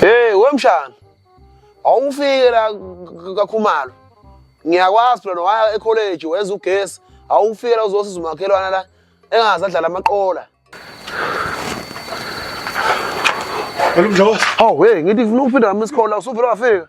Hey wemshana. Awufike la kakhumalo. Ngiyakwazi phela waya ecollege wenza ugesi. Awufike la uzosiza umakhelwana la engaze adlala amaqola. Olumdlozi. Hawu hey ngithi ngifuna ukuphinda nami isikole la usuphela wafika.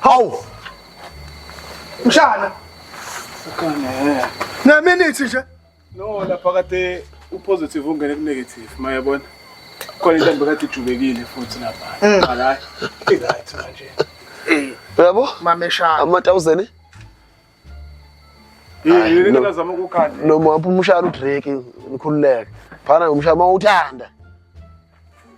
Hawu. Mshana. Ukhona. Na minute nje. No lapha kade upositive ungene ku negative mayabona. Khona intombi kade ijulekile futhi lapha. Mm. Hayi. Right manje. Eh. Yabo? Mameshana. Ama 1000. Yini ngazama ukukhanda. Noma upha umshana uDrake nikhululeke. Phana umshana mawuthanda.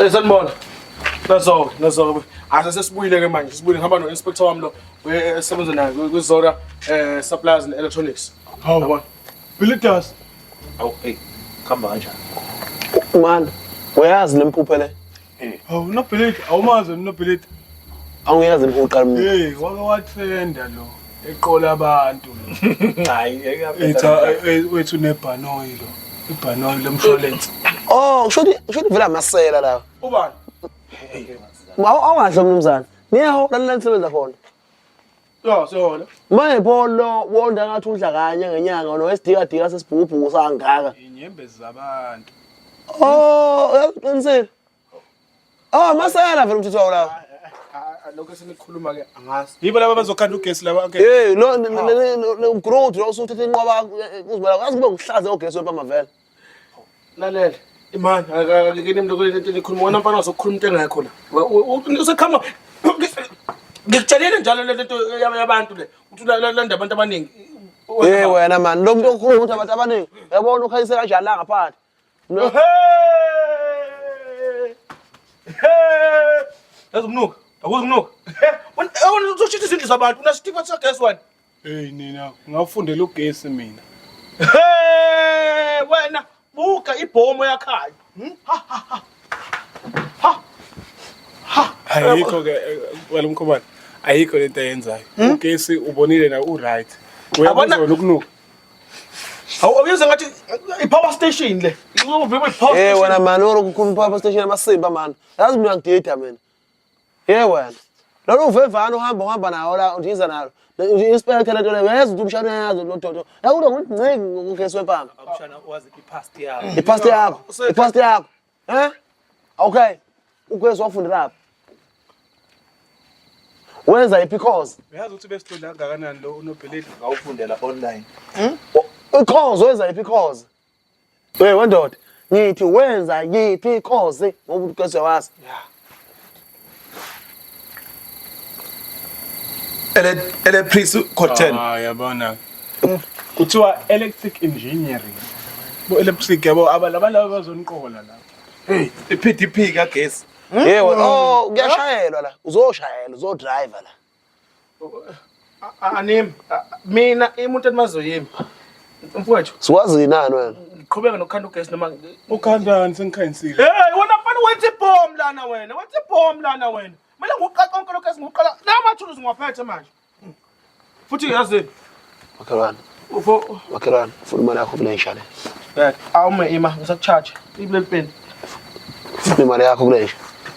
Eh sanibona. Nazo, nazo. Ase sesibuyile ke manje. Sibuyile ngihamba no inspector wami lo esebenza naye kwi Zora eh supplies and electronics. Hawu baba. Bilitas. Hawu hey, khamba kanjani? Mani, uyazi lempuphe le. Hawu unobhilidi awumazi wena unobhilidi. Awungekaze uqala umuntu. Hey wake wathenda lo eqola abantu. Hayi ngeke Ethi yaphetha. "Ah, eh, wethu nebhanoyi lo. Ibhanoyi lomshwalense. Oh, kusho ukuthi kusho ukuthi vele amasela lawa. Ubani? Mawu awungahle mnumzane. Niyaho lalela nisebenza khona. Yo sona. Manje pho lo wonda ngathi udla kanye ngenyanga no esidika dika sesibhubhu sangaka. Inyembezi zabantu. Oh, uyaqinisile. Oh, masela vele umthetho wawo la. Lokho esinikhuluma ke angazi. Yibo laba bazokhanda ugesi laba okay. Eh, lo ngikurude lo usuthethe inqoba uzibona. Azi kube ngihlaze ogesi wempama vele. lalela imani akekeni mntu kule nto nikhuluma wona mfana wazokukhuluma into engekho la usekhama ngikutshelile njalo le nto yabantu le ukuthi landa abantu abaningi Eh wena man lo muntu okhuluma ukuthi abantu abaningi yabona ukhayise kanjani la ngaphandle No. Yazi umnuka, akuzi umnuka. Wena uzoshitha izindlu zabantu, unasitikwa sakhe one. Hey nina ngafundela ugesi mina. Hey wena buka ibhomo yakhayo. Hmm? Ha ha ha. Ha. Ha. Ayikho ke eh, wena mkhobane. Ayikho lento ayenzayo. Hmm? Ugesi ubonile na u right. Uyabona ukunuka. Awu awuyenza ngathi i-power station le. Nqobo bebe power station. Eh wena man oro kukhulu power station amasimba man. Yazi mina ngidida mina. Yebo wena. Lolu uvevana uhamba uhamba nawo la udiza nalo. Inspector lento le weza ukuthi umshana uyazi lo dodo. La kulo ngiciki ngokugesi wempama. Umshana wazi ipast yakho. Ipast yakho. Ipast yakho. Eh? Okay. Ugesi wafundela lapha. Wenza iphi course? Uyazi ukuthi besithola kangakanani lo unobheleli ngawufundela online. Hmm? Course wenza iphi course? Hey wendoda, ngithi wenza yiphi ikhozi ngoba uqeshe wazi. Ele ele priest Cotton. Ah yabona. Kuthiwa electric engineering. Bo electric yabo abalaba laba bazoniqola la. Hey, iPDP kagesi. Yebo, oh kuyashayelwa la. Uzoshayela, uzodriver la. Anim mina imuntu endimaziyo yimi mfowethu. Siwazi yinani wena? Ngiqhubeka nokukhanda ugesi noma ukhandani sengikhayinsile. Hey wena mfana wenza ibhomu lana wena. Wenza ibhomu lana wena. Mina ngiqaqa konke lokho esingikuqala. La mathuluzi ngiwaphethe manje. Futhi yazi Makhelwane. Ufo. Makhelwane, funa imali yakho kule nsha le. Bek, awume ima, ngisakucharge. Ibe pen. Funa imali yakho kule nsha.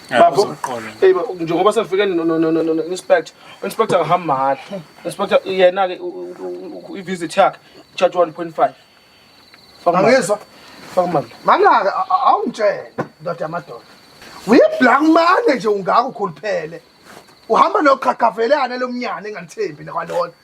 Bafo. Hey, njengoba sefike no no no no inspector. Inspector ngihamba mahhala. Inspector yena ke i visit yakhe charge 1.5. Faka mali. Angizwa. Faka mali. Mangaka awungitshele ndoda yamadoda. Uyiblank manje nje ungaka ukhuluphele. Uhamba noqhaqhavelana lomnyane engalithembi nakwalona.